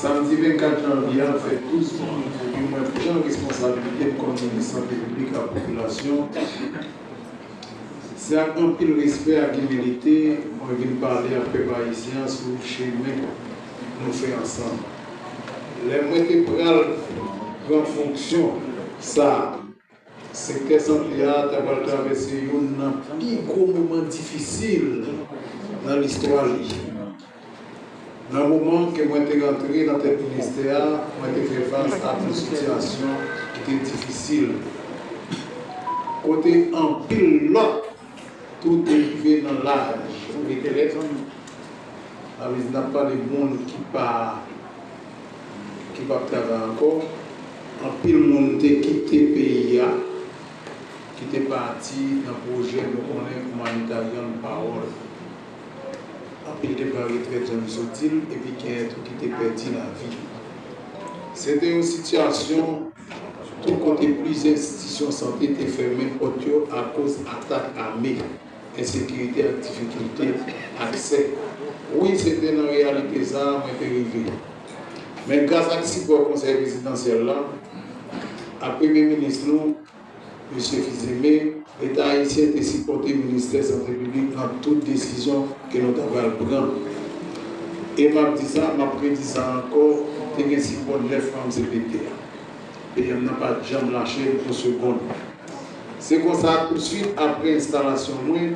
Samdi 24 janvye a, fè 12 moun mouri mwen pran responsabilite m kòm minis sante piblik ak popilasyon. Se ak anpil respè ak imilite mwen vin pale ak pèp ayisyen an sou chemen nou fè ansanm. Lè mwen te pral pran fonksyon sa a. Sektè sante a ta pral travèse youn nan pi gwo moman difisil nan listwa li. Nan moman ke mwen te rantre nan tèt ministè a, mwen te fè fas ak yon sitiyasyon ki te difisil, kote anpil lòt tou te rive nan laj retrèt, sa vle di n ap pale moun ki pa, ki p ap travay ankò. Anpil moun te kite peyi a, ki te pati nan pwojè nou konnen Humanitarian Parole. Anpil te pran retrèt jan nou soti l epi genyen tou ki te pèdi lavi yo. Se te yon sitiyasyon tou kote plizyè enstitisyon sante te fèmen pòt yo akoz atak ame. Ensekirite ak difikilte aksè. Wi se te nan reyalite sa a mwen te rive. Men gras ak sipò Konsèy Prezidansyèl la ak Premye Minis nou, Mesye Fils-Aimé, Leta Ayisyen te sipòte Ministè Sante Piblik nan tout desizyon ke nou ta pral pran. E m ap di sa, m ap redi sa ankò, te gen sipò 9 manm cpt a. PM nan pa t janm lache m yon segonn. Se konsa, tousuit apre enstalasyon mwen,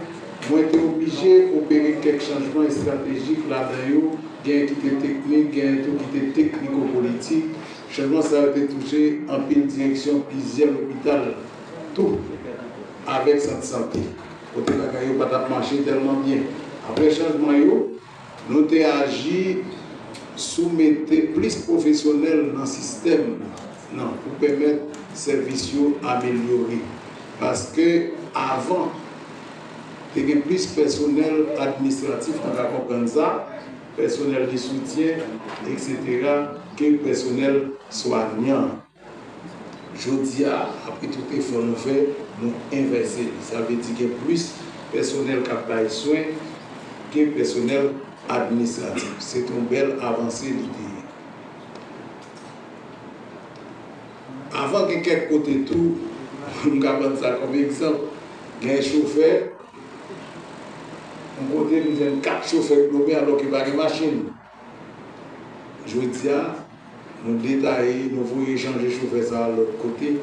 mwen te oblije opere kèk chanjman estratejik, ladan yo, genyen ki te teknik, genyen tou ki te tekniko-politik. Chanjman sa yo te touche anpil direksyon plizyè lopital tou, avèk sant sante, kote bagay yo pa t ap mache tèlman byen. Apre chanjman yo. Nou te aji sou mete plis pwofesyonèl nan sistèm nan pou pèmèt sèvis yo amelyore. Paske avan, te gen plis pèsonèl administratif, nou ka konprann sa, pèsonèl de soutyen, eksetera, ke pèsonèl swanyan. Jodi a, apre tout efò nou fè, nou envèse li. Sa vle di gen plis pèsonèl k ap bay swen ke pèsonèl administratif. Se te yon bèl avanse li te ye. Avan gen kèk kote tou, m ka pran sa kòm egzanp, gen chofè, yon kote m jwenn 4 chofè k dòmi alò ke pa gen machin. Jodi a, nou detaye, nou voye Jan je chofè sa a lòt kote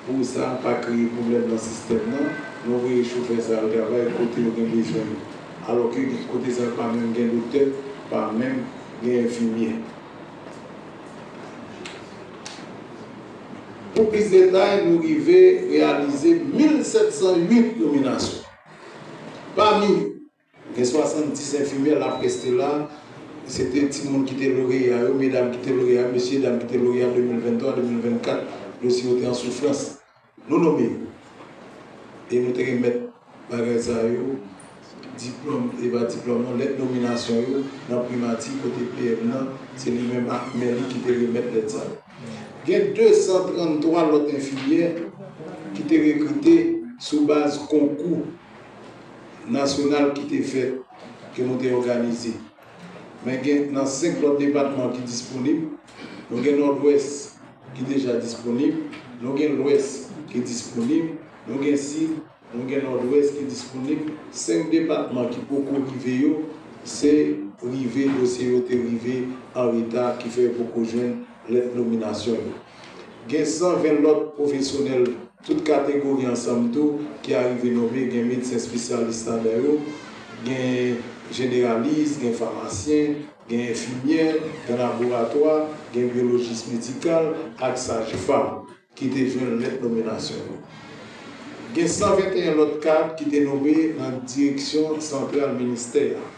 pou sa pa kreye pwoblèm nan sistèm nan. Nou voye chofè sa a al travay kote yo gen bezwen yo. Alò ke gen kote sa yo pa menm gen doktè, pa menm gen enfimyè. Pou plis detay, nou rive reyalize 1,708 nominasyon. Pami yo, Gen 70 enfimyè la preste la, se te timoun ki te loreya yo, medam ki te loreya yo, mesye dam ki te loreya 2023, 2024, yo si yo te an soufrans. Nou nome yo. E nou te remèt bagay sa yo, diplòm, e pa diplòm non, lèt nominasyon yo nan primati kote PM nan, se li menm ak men li ki te remèt lèt sa yo. Gen 233 lòt enfimyè ki te rekrite sou baz konkou. nasyonal ki te fèt, ke nou te òganize. Men gen nan 5 lòt depatman ki disponib. Nou gen Nòdwès ki deja disponib. Nou gen Lwès ki disponib. Nou gen Sid, nou gen Nòdwès ki disponib. 5 depatman ki poko rive yo, se rive dosye yo te rive an reta ki fè yo poko jwenn lèt nominasyon yo. Gen 120 lòt pwofesyonèl. Tout kategori ansanm tou ki arive nome gen medsen spesyalis ladan yo, gen jeneralis, gen famasyen, gen enfimyè, gen laboratwa, gen byolojis medikal ak sajfam ki te jwenn lèt nominasyon yo. Gen 121 lòt kad ki te nome nan direksyon santral ministè a.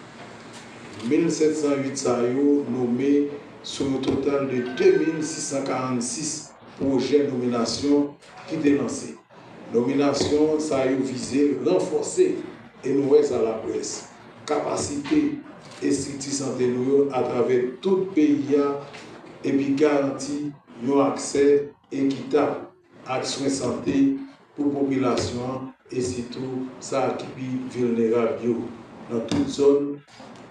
1.708 sa yo nome sou yon total de 2.646 Pwojè nominasyon ki te lanse. Nominasyon sa yo vize ranfòse, e nou wè sa laprès, kapasite estrikti sante nou yo atravè tout peyi a epi garanti yon aksè ekitab ak swen sante pou popilasyon an e sitou sa ki pi vilnerab yo nan tout zòn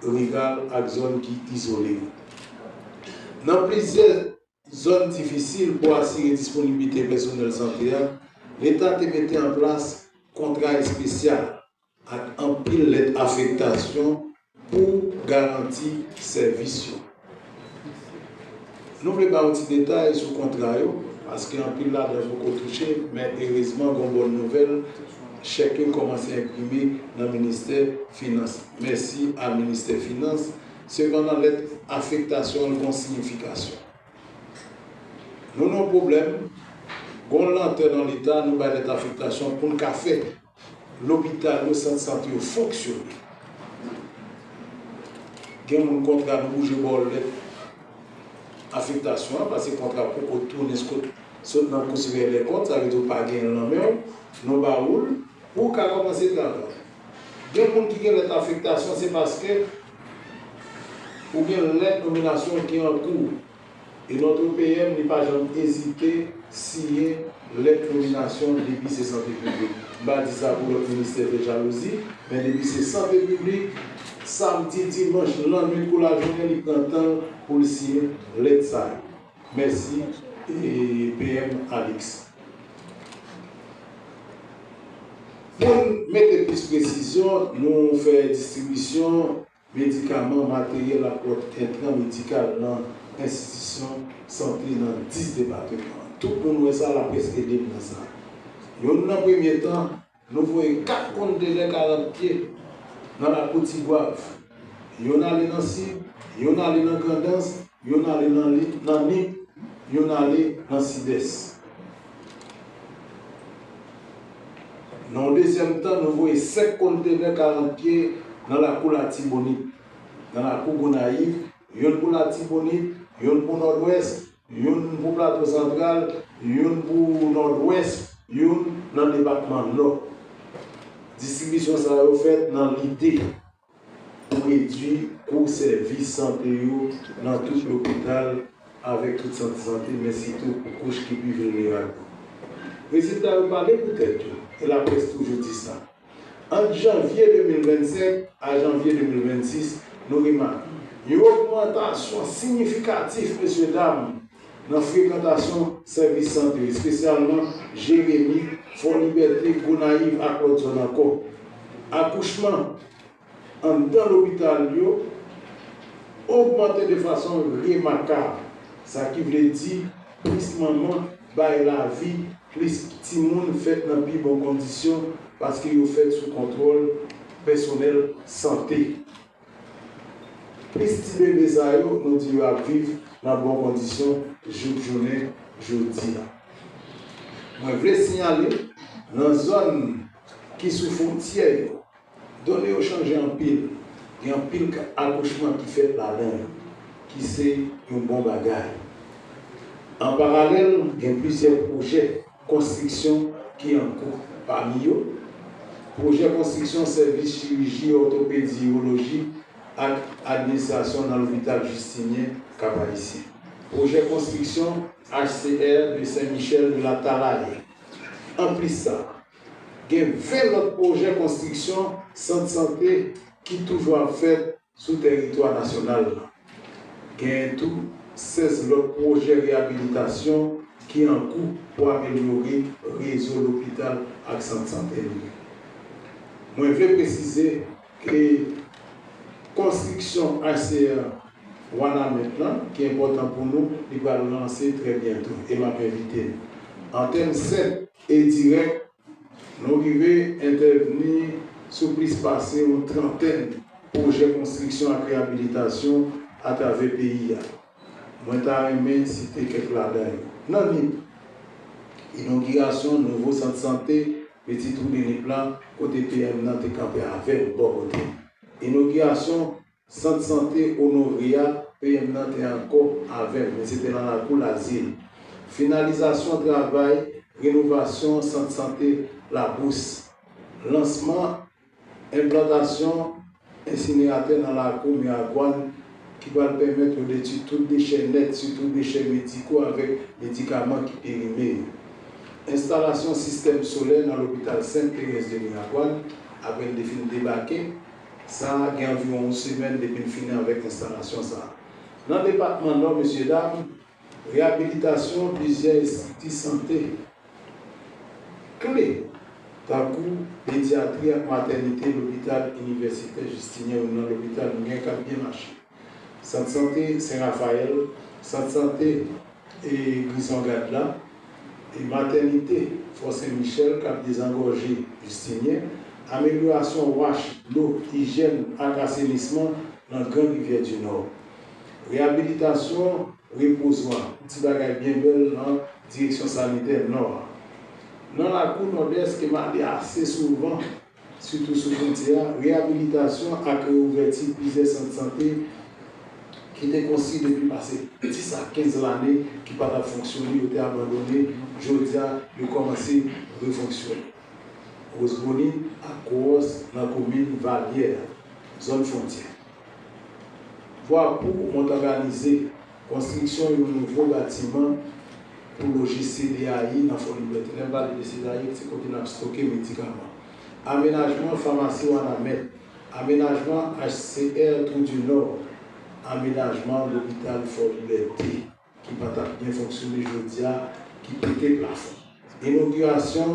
riral ak zòn ki izole yo. Nan plizyè. zòn difisil pou asire disponiblite pèsonèl sante a, Leta te mete an plas kontra espesyal ak anpil lèt afektasyon pou garanti sèvis yo. Nou vle ba ou ti detay sou kontra yo, paske anpil ladan yo poko touche, men erezman gon bòn nouvèl, chèk yo kòmanse enprime nan ministè finans. Mèsi a ministè finans. Sepandan lèt afektasyon an gon siyifikasyon. Nou nan yon pwoblèm, gon lantè nan leta, nou bay lèt afektasyon pou n ka fè lopital yo, sant sante yo fonksyone. Gen moun kontra nou bouje ba w lèt afektasyon an pase kontra poko tounen sko sot nan kou siveyè dèkont, sa vle di w pa genyen l nan men w, nou ba ou l pou w ka kòmanse travay. Gen moun ki gen lèt afektasyon se paske ou gen lèt nominasyon ki an kou ou. E notre PM li pa janm ezite siyen lèt nominasyon depi se sante piblik. M pa di sa pou lòt ministè fè jalouzi, men depi se sante piblik, samdi, dimanch, lannwit kou lajounen li pran tan l pou l siyen lèt sa yo. Mèsi PM Alix. Pou n mete plis presizyon, nou fè distribisyon medikaman, materyèl ak lòt entran medikal nan enstitisyon sante nan 10 depateman. Tout moun wè sa, laprès ede n nan sa. Yon nan premye tan, Nou voye 4 kontenè 40 pye nan lakou Tigwav. Youn ale nan Sid, youn ale nan Grandans, youn ale nan Nip, youn ale nan Sidès. Nan yon dezyèm tan, nou voye 5 kontenè 40 pye nan lakou Latibonit. Nan lakou Gonayiv, youn pou Latibonit, youn pou Nòdwès, youn pou Plato Santral, youn pou Nòdwès, youn nan depatman Nò. Distribisyon sa yo fèt nan lide pou redui kou sèvis sante yo nan tout lopital avèk tout sant sante, men sitou pou kouch ki pi vilnerab yo. Rezilta yo pale pou tèt yo, e laprès toujou di sa. Ant janvye 2025 a janvye 2026, nou remake yon ogmantasyon siyifikatif, mesyedam, nan frekantasyon sèvis sante, espesyalman Jeremi, Fò Libète, Gonayiv ak lòt zòn ankò. Akouchman. anndan lopital yo ogmante de fason remakab, sa ki vle di plis manman bay lavi, plis timoun fèt nan pi bon kondisyon paske yo fèt sou kontwòl pèsonèl sante. Plis ti bebe sa yo nou di yo ap viv nan bon kondisyon jouk jounen jodi a. Mwen vle siyale nan zòn ki sou fwontyè yo, Done yo chanje anpil, gen anpil ka akouchman ki fèt ladan yo, ki se yon bon bagay. An paralèl, gen plizyè pwojè konstriksyon ki an kou, pami yo, pwojè konstriksyon sèvis chiriji òtopedi, iwoloji ak administrasyon nan lopital Jistinyen Kap-Ayisyen, pwojè konstriksyon HCR de Sen Michèl de la Talaye. Anplis sa. Gen 20 lòt pwojè konstriksyon sant sante ki toujou ap fèt sou tèritwa nasyonal la. Genyen tou 16 lòt pwojè reyabilitasyon ki an kou pou amelyore rezo lopital ak sant sante nou yo. Mwen vle presize ke konstriksyon HCR Wanament lan, ki enpòtan pou nou, li pral lanse trè byento e m ap envite nou. An tèm sèt e dirèk, nou rive entèvni sou plis pase yon trantèn pwojè konstriksyon ak reyabilitasyon atravè peyi a. Mwen ta renmen site kèk ladan yo. Nan Nip, inogirasyon nouvo sant sante Petit Trou de Nip la, kote PM nan te kanpe avè m bò kote m. Inogirasyon Sant sante Honoré a, PM nan te ankò avè m, men se te nan lakou Lazil. Finalizasyon travay renovasyon sant sante Labous. Lansman enplantasyon ensineratè nan lakou Miragwàn ki pral pèmèt yo detwi tout dechè nèt, sitou dechè mediko avèk medikaman ki perime yo. Enstalasyon sistèm solè nan lopital Sent Terèz de Miragwàn, aprè l te fin debake, Sa a gen anviwon yon semèn depi n fini avèk enstalasyon sa a. Nan depatman Nò, mesyedam, reyabilitasyon plizyè estrikti sante kle tankou pedyatri ak matènite lopital inivèsitè Jistinyen, youn nan lopital nou gen k ap byen mache. Sant sante Sen Rafayèl, Sant sante Grison Gad la, e Matènite Fò Sen Michèl k ap dezangòje Jistinyen, amelyorasyon wach dlo, ijèn ak asenisman nan Gran Rivyè di Nò, reyabilitasyon repozwa, ti bagay byen bèl nan Direksyon Sanitè Nò a. Nan lakou Nòdès te male ase souvan sitou sou fwontyè a, reyabilitasyon ak reouvèti plizyè sant sante ki te konstwi depi pase 10 a 15 lane ki pa t ap fonksyone, yo te abandone, jodi a yo kòmanse refonksyone. Rosebonite ak Kowòs nan komin Valyè, zòn fwontyè. Vwa pou mont òganize konstriksyon yon nouvo batiman pou loje CDAI nan Fòlibète. Lè m pale de CDAI, se kote n ap stoke medikaman. Amenajman famasi Wanament. Amenajman HCR Trou du Nord. Amenajman lopital Fòlibète. ki pa t ap byen fonksyone jodi a, ki pete plafon. Inogirasyon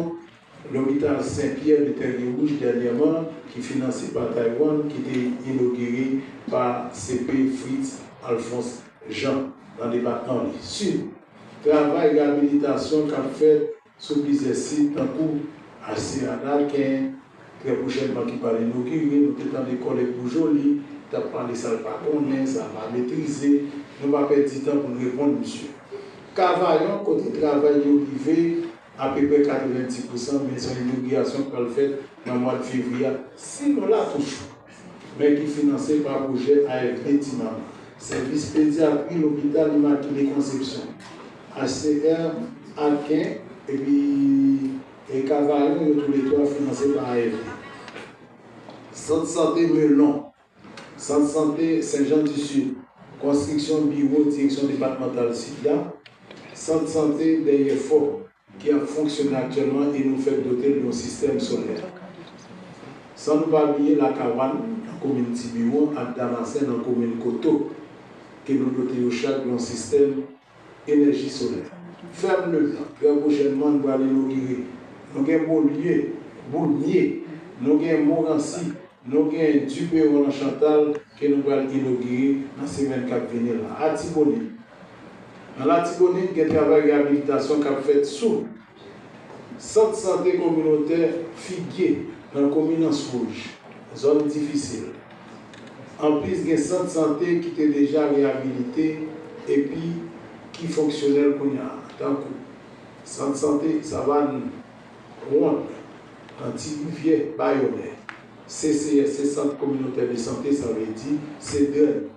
Lopital Sen Pyè de Tègewouj dènyèman ki finanse pa Taiwan ki te inogire pa CP Fritz Alphonse Jean nan depatman li. Sid. Travay reyabilitasyon k ap fèt Sou plizyè sit tankou HCA Nalken, trè pwochènman ki pral inogire, nou te tande kòlèg Pou Joli t ap pale sa l pa konnen, sa l pa metrize. Nou pa pèdi tan pou n reponn misye. Kavayon, kote travay yo rive apeprè 90 pousan, men se yon inogirasyon k pral fèt nan mwad fevriye a, si nou la toujou. men ki finanse pa pwojè AFD Ti Mama, Sèvis Pedyatri Lopital Imakile Konsepsyon, HCR, Atken, epi e Kavayon yo tou le twa finanse pa AFD. Sant Sante Melon, Sant Sante Sen Jan Di Sid, Konstriksyon Biwo Direksyon Depatmantal Sid la, Sant Sante Dèyè Fò, ki ap fonksyone aktyèlman e nou fèk dote l yon sistèm solè. San nou pa bliye Lakawann, nan komin Tibiwon, ak Damasen, nan komin Koto, ke nou dote yo chak yon sistèm enèji solè. Fèm Leblanc, trè pwochènman, n pral inogire. Nou gen Bolye, Boulmye, nou gen Moransi, nou gen Duperon nan Chantal, ke nou pral inogire nan semèn k ap vini la. Atibonit. Nan Latibonit gen travay reyabilitasyon k ap fèt sou Sant sante kominotè Figye nan komin Answouj, zòn difisil. Anplis gen sant sante ki te deja reyabilite epi ki fonksyonèl kounya tankou Sant sante Savann Wonn nan Ti Rivyè, Bayonè. CCS se sant kominotè de sante, sa vle di se dren.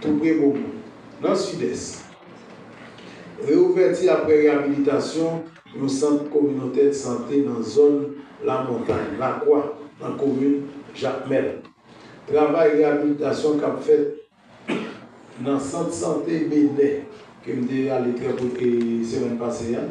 Toupre Bomon, nan Sidès. Reouvèti aprè reyabilitasyon yon sant kominotè sante nan zòn Lamontay, Lakwa, nan komin Jakmèl. Travay reyabilitasyon k ap fèt nan sant sante Benè, ke m te ale trè pwòp e semèn pase a,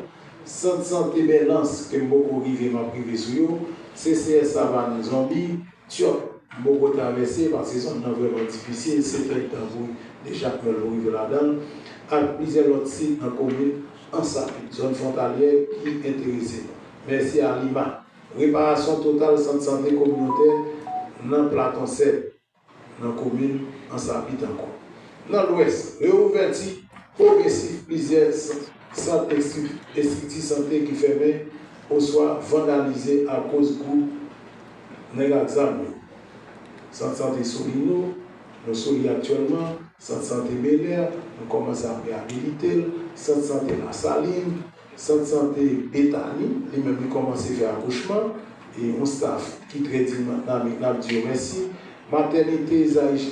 sant sante Bèlans, ke m poko rive, m ap rive sou yo, CCS Savann, Zonbi, Tyòt Bogota vèse pase zòn nan vrèman difisil se fèy tanbri de jakmèl nou rive ladan l ak plizyè lòt sit nan komin Ansabi, zòn fwontalyè ki enterese nou. Mèsi a Lima, reparasyon total sant sante kominotè nan Platon Sèd nan komin Ansabi tankou nan Lwès, reouvèti pwogresif plizyè sant. Sant estrikti sante ki fèmen oswa vandalize akoz gwoup nèg ak zam yo. Sant sante Solino, nou sou li aktyèlman, sant sante Belè, nou kòmanse ap reyabilite l, sant sante Lasalin, sant sante Betani, li menm li kòmanse fè akouchman, yon staf ki trè dinamik n ap di yo mèsi, matènite Zaï.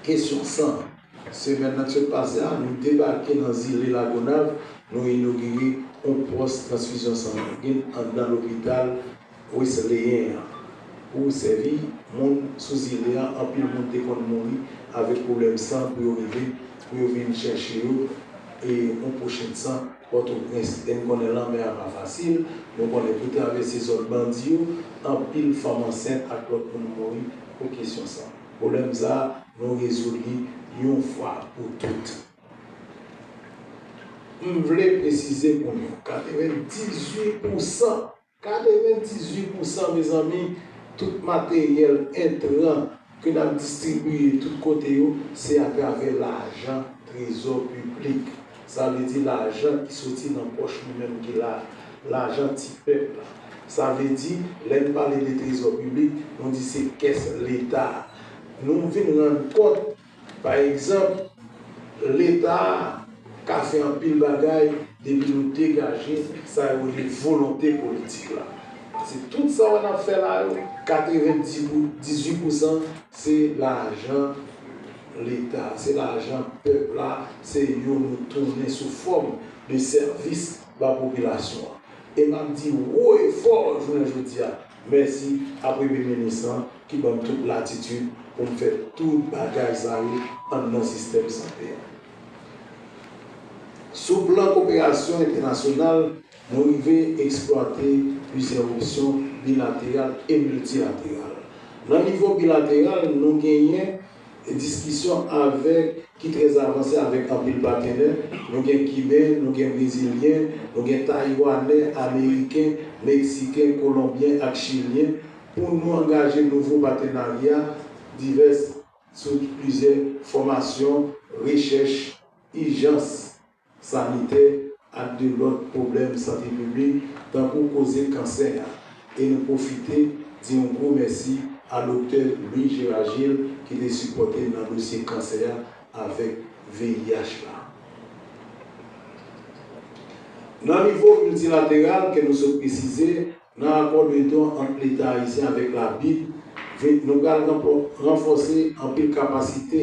Kesyon 100, Semèn nan k sot pase a, nou debake nan zile Lagonav, nou inogire yon pòs transfizyon sanguin anndan lopital Wesleyen an pou sèvi moun sou zile a. Anpil moun te konn mouri avèk pwoblèm san pou yo rive pou yo vin chèche yo yon pwochenn san Pòtoprens. E n konnen lanmè a pa fasil, nou konnen pou travèse zòn bandi yo, anpil fanm ansent ak lòt moun mouri. pou kesyon sa. Pwoblèm sa a, nou rezoud li yon fwa pou tout. M vle presize pou nou, 98 pou san, 98 pou san mezanmi, tout materyèl entran ke n ap distribiye tout kote yo, se atravè lajan trezò piblik. Sa vle di lajan ki soti nan pòch nou menm ki la a, lajan ti pèp la. Sa vle di, lè n pale de trezò piblik, nou di se kès Leta a. Nou vin rann kont, pa egzanp, Leta a ka fè anpil bagay depi nou degaje sa yo rele volonte politik la. Pase tout sa wè n ap fè la yo, katrevendizui pousan se lajan. leta se lajan pèp la se yo nou tounen sou fòm de sèvis ba popilasyon an e map di wo e fò jounen jodi a mèsi a premye minis lan ki banm tout latitid poum fè tout bagay sa yo anndan sistèm sante a sou plan koperasyon entènasyonal Nou rive eksplwate plizyè opsyon bilateral e miltilateral. Nan nivo bilateral, nou genyen diskisyon avèk ki trè avanse avèk anpil patenè, nou gen Kiben, nou gen Brezilyen, nou gen Tayiwanè, Ameriken, Meksiken, Kolonbyen ak Chilyen pou nou angaje nouvo patenarya divès sou plizyè fòmasyon, rechèch, ijans. sanitè ak de lòt pwoblèm sante piblik tankou koze kansè a e nou pwofite di yon gwo mèsi a Doktè Louis Gérard Gilles ki te sipòte n nan dosye kansè a avèk VIH la. Nan nivo miltilateral ke nou sot presize, nan akò de don ant Leta Ayisyen avèk la bid, nou pral ranfòse anpil kapasite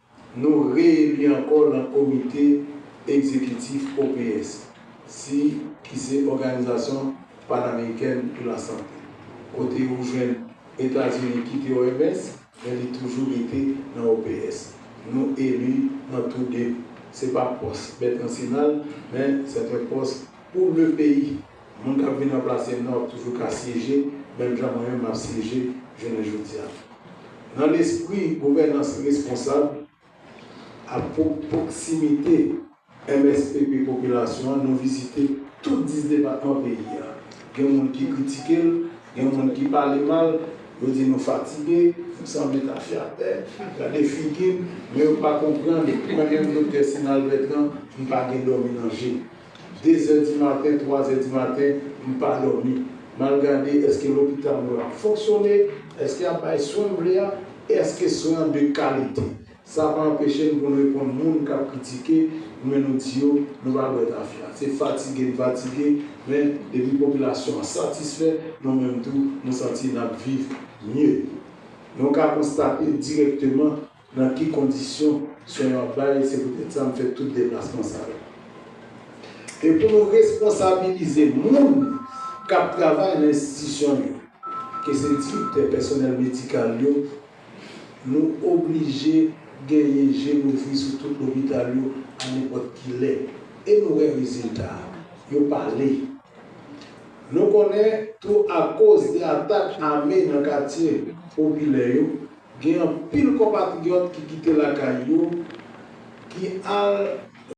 Nou re-eli ankò lan komite egzekitif OPS, si ki se Òganizasyon Panamerikèn pou la Sante. Kote ou jwenn Etazini kite OMS, men li toujou rete nan OPS. Nou eli nan tou de. Se pa pòs bèt nansyonal, men sèt un pòs pou le peyi. Moun kap vin ranplase nou ap toujou ka syeje menm jan mwen menm map syeje jounen jodi a. Nan lespri gouvènans responsab ak pwoksimite MSPP popilasyon an nou vizite tout 10 depatman peyi a. Gen moun ki kritike l, gen moun ki pale mal, yo di nou fatige, nou sanble tafya atè, gade figi n, men yo pa konprann mwen menm Doktè Sinal Bètran m pa gen dòmi nan je. 2 zè di maten, 3 zè di maten, m pa dòmi. M al gade èske lopital mwen ap fonksyone, èske y ap bay swen m vle a, èske swen an de kalite. Sa pa anpeche n pou n reponn moun k ap kritike nou men nou di yo nou pa bwè tafya. Se fatige n fatige men depi popilasyon an satisfè, nou menm tou nou santi n ap viv mye. Nou ka konstate dirèkteman Nan ki kondisyon swen yo ap bay, se poutèt sa m fè tout deplasman sa yo. E pou nou responsabilize moun k ap travay nan enstitisyon yo, ke se direktè, pèsonèl medikal yo, nou oblije genyen je louvri sou tout lopital yo a nenpòt ki lè. E nou wè rezilta a. Yo pale. Nou konnen tou akoz de atak ame nan katye popilè yo, Gen anpil konpatriyòt ki kite lakay yo, ki al.